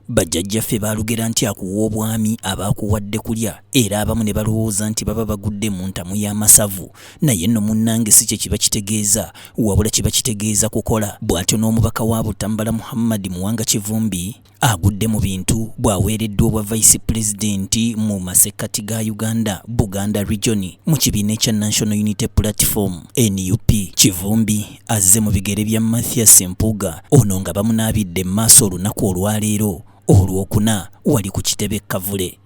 Bajjajjaffe baalugera nti akuwa obwami aba akuwadde kulya era abamu ne balowooza nti baba bagudde mu ntamu y'amasavu naye nno munnange si kye kiba kitegeeza wabula kiba kitegeeza kukola bw'atyo n'omubaka wa Butambala Muhammad Muwanga Kivumbi agudde mu bintu bw'aweereddwa obwa Vice President mu masekkati ga Uganda Buganda Region mu kibiina ekya National Unity Platform NUP Kivumbi azze mu bigere bya Mathias Mpuuga ono nga bamunaabidde mu maaso olunaku olwaleero olwokuna wali ku kitebe Kavule.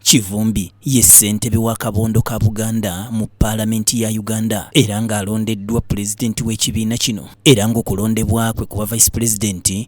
Kivumbi ye ssentebe wa kabondo ka Buganda mu paalamenti ya Uganda era ng'alondeddwa pulezidenti w'ekibiina kino era ng'okulondebwa kwe kuba vice pulezidenti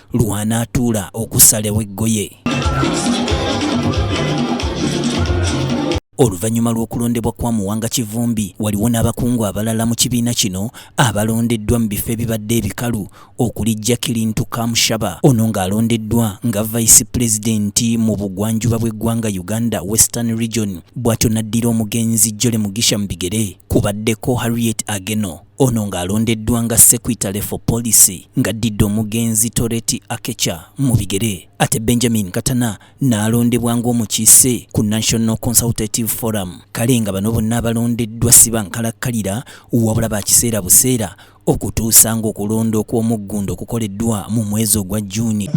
lw'anaatuula okusalawo eggoye. Oluvannyuma lw'okulondebwa kwa Muwanga Kivumbi waliwo n'abakungu abalala mu kibiina kino abalondeddwa mu bifo ebibadde ebikalu okuli Jacqueline Ntukamushaba ono ng'alondeddwa nga Vice President mu bugwanjuba bw'eggwanga Uganda Western Region bw'atyo n'addira omugenzi Jolly Mugisha mu bigere kubaddeko Harriet Ageno Ono ng'alondeddwa nga Sekwitale for Policy ng'addidde omugenzi Toreti Akecha mu bigere ate Benjamin Katana n'alondebwa ng'omukiise ku National Consultative Forum kale nga bano bonna abalondeddwa si bankalakkalira wabula ba kiseera buseera okutuusa ng'okulonda okw'omuggundu okukoleddwa mu mwezi ogwa June.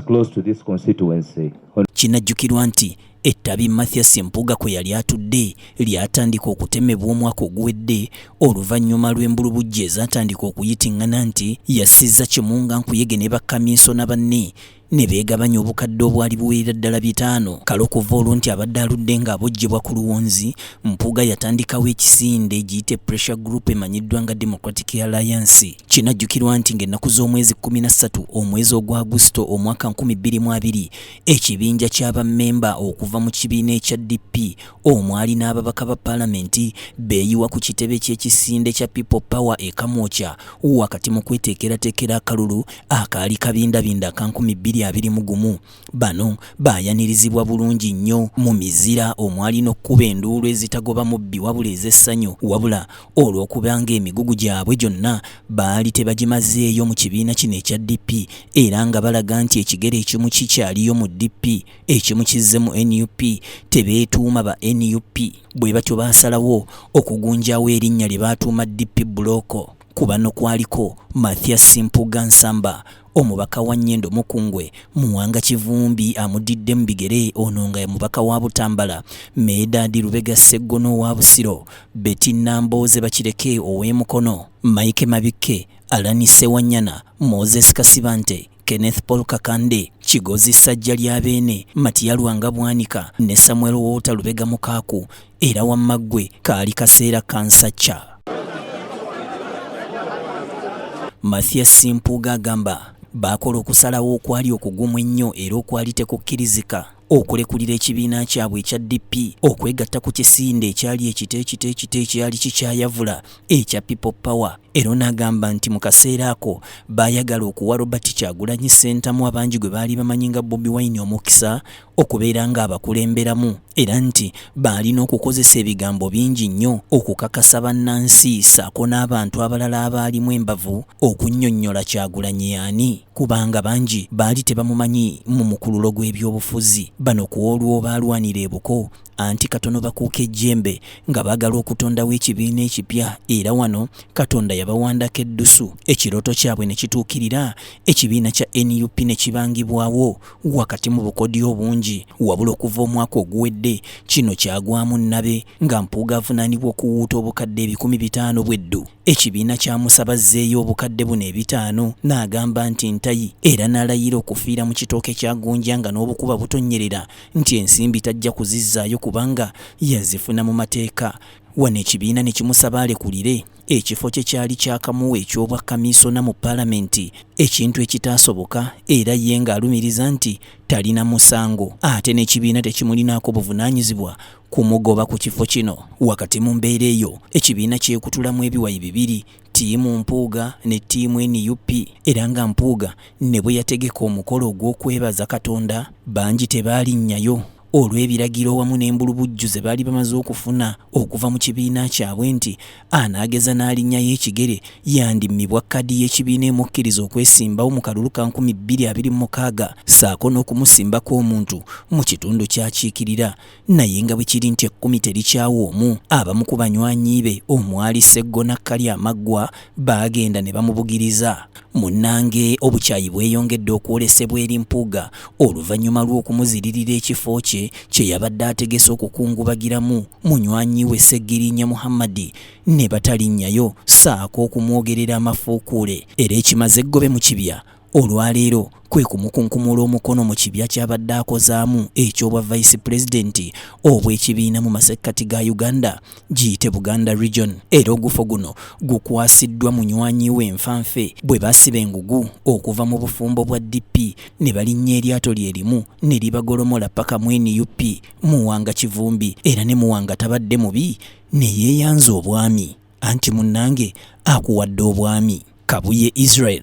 Kinajjukirwa nti Ettabi Mathias Mpuuga kwe yali atudde lyatandika okutemebwa omwaka oguwedde oluvannyuma lw'embulubujja ezaatandika okuyiting'ana nti yassizza kimu nga nkuyege ne bakaminsona banne ne beegabanya obukadde obwali buwerera ddala bitaano kale okuva olwo nti abadde aludde ng'abojjebwa ku luwonzi mpuuga yatandikawo ekisinde egiyite pressure group emanyiddwa nga democratic alliance kinajjukirwa nti ng'ennaku z'omwezi 13 omwezi ogwa agusito omwaka 2020 Ekibinja kya bammemba okuva mu kibiina ekya DP omwali n'ababaka ba palamenti beeyiwa ku kitebe ky'ekisinde kya People Power e Kamwokya wakati mu kweteekerateekera akalulu akaali kabindabinda aka nkumi bbiri abiri mu gumu. Bano baayanirizibwa bulungi nnyo mu mizira omwali n'okukuba enduulu ezitagoba mubbi wabula ez'essanyu wabula olw'okuba ng'emigugu gyabwe gyonna baali tebagimazeeyo mu kibiina kino ekya DP era nga balaga nti ekigere ekimu kikyaliyo mu DP ekimu kizze mu nup tebeetuuma ba nup bwe batyo baasalawo okugunjaawo erinnya lye baatuuma DP bulooko ku bano kwaliko Mathias Mpuuga Nsamba Omubaka wa Nyendo Mukungwe, Muwanga Kivumbi amudidde mu bigere ono nga mubaka wa Butambala, Medadi Lubega Sseggono owa Busiro, Betty Nambooze Bakireke ow'e Mukono, Mike Mabikke, Alani Ssewanyana, Moses Kasibante, Kenneth Paul Kakande, Kigozi Ssajja lya Beene, Matiya Lwanga Bwanika ne Samuel Woota Lubega Mukaaku Era wamma ggwe kaali kaseera kansacca. Mathias Simpuuga agamba baakola okusalawo okwali okugumu ennyo era okwali tekukkirizika okulekulira ekibiina kyabwe ekya DP okwegatta ku kisinde ekyali ekito ekito ekito ekyali kikyayavula ekya People Power Era ono agamba nti mu kaseera ako baayagala okuwa Robert Kyagulanyi Ssentamu abangi gwe baali bamanyi nga Bobi Wine omukisa okubeera ng'abakulemberamu era nti baalina okukozesa ebigambo bingi nnyo okukakasa bannansi ssaako n'abantu abalala abaalimu embavu okunnyonnyola Kyagulanyi yaani kubanga bangi baali tebamumanyi mu mukululo gw'ebyobufuzi. Bano ku olwo baalwanira ebuko anti katono bakuuka ejjembe nga baagala okutondawo ekibiina ekipya era wano katonda yabawandako eddusu ekirooto kyabwe ne kituukirira ekibiina kya nup ne kibangibwawo wakati mu bukodyo obungi wabula okuva omwaka oguwedde kino kyagwamu nnabe nga mpuuga avunaanibwa okuwuuta obukadde ebikumi bitaano bweddu ekibiina kyamusaba zzeeyo obukadde buno ebitaano n'agamba nti ntayi era n'alayira okufiira mu kitooke kya gonja nga n'obukuba butonnyerera nti ensimbi tajja kuzizzaayo kubanga yazifuna mu mateeka wano ekibiina ne kimusaba alekulire ekifo kye kyali kyakamuwa eky'obwa kamiisona mu palamenti ekintu ekitaasoboka era ye ng'alumiriza nti talina musango ate n'ekibiina tekimulinaako buvunaanyizibwa kumugoba ku kifo kino wakati mu mbeera eyo ekibiina kyekutulamu ebiwayi bibiri ttiimu Mpuuga ne ttiimu nup era nga Mpuuga ne bwe yategeka omukolo ogw'okwebaza Katonda bangi tebaalinnyayo olw'ebiragiro wamu n'embulubujju ze baali bamaze okufuna okuva mu kibiina kyabwe nti anaageza n'alinnyayo ekigere yandimmibwa kkaadi y'ekibiina emukkiriza okwesimbawo mu kalulu ka nkumi bbiri abiri mu mukaaga ssaako n'okumusimbako omuntu mu kitundu ky'akiikirira naye nga bwe kiri nti ekkumi terikyawa omu abamu ku banywanyi be omwali sseggona kkali amaggwa baagenda ne bamubugiriza munnange obukyayi bweyongedde okwolesebwa eri mpuuga oluvannyuma lw'okumuziririra ekifo kye kye yabadde ategese okukungubagiramu munywanyi we ssegirinya muhammadi ne batalinnyayo saako okumwogerera amafuukuule era ekimaze eggobe mu kibya olwaleero kwe kumukunkumula omukono mu kibya ky'abadde akozaamu eky'obwa vice pulezidenti obw'ekibiina mu masekkati ga Uganda giyite Buganda Region era ogufo guno gukwasiddwa munywanyi we nfanfe bwe basiba engugu okuva mu bufumbo bwa DP ne balinnya eryato lye limu ne libagolomola paka mu nup Muwanga Kivumbi era ne Muwanga tabadde mubi ne yeeyanza obwami anti munnange akuwadde obwami Kabuye Israel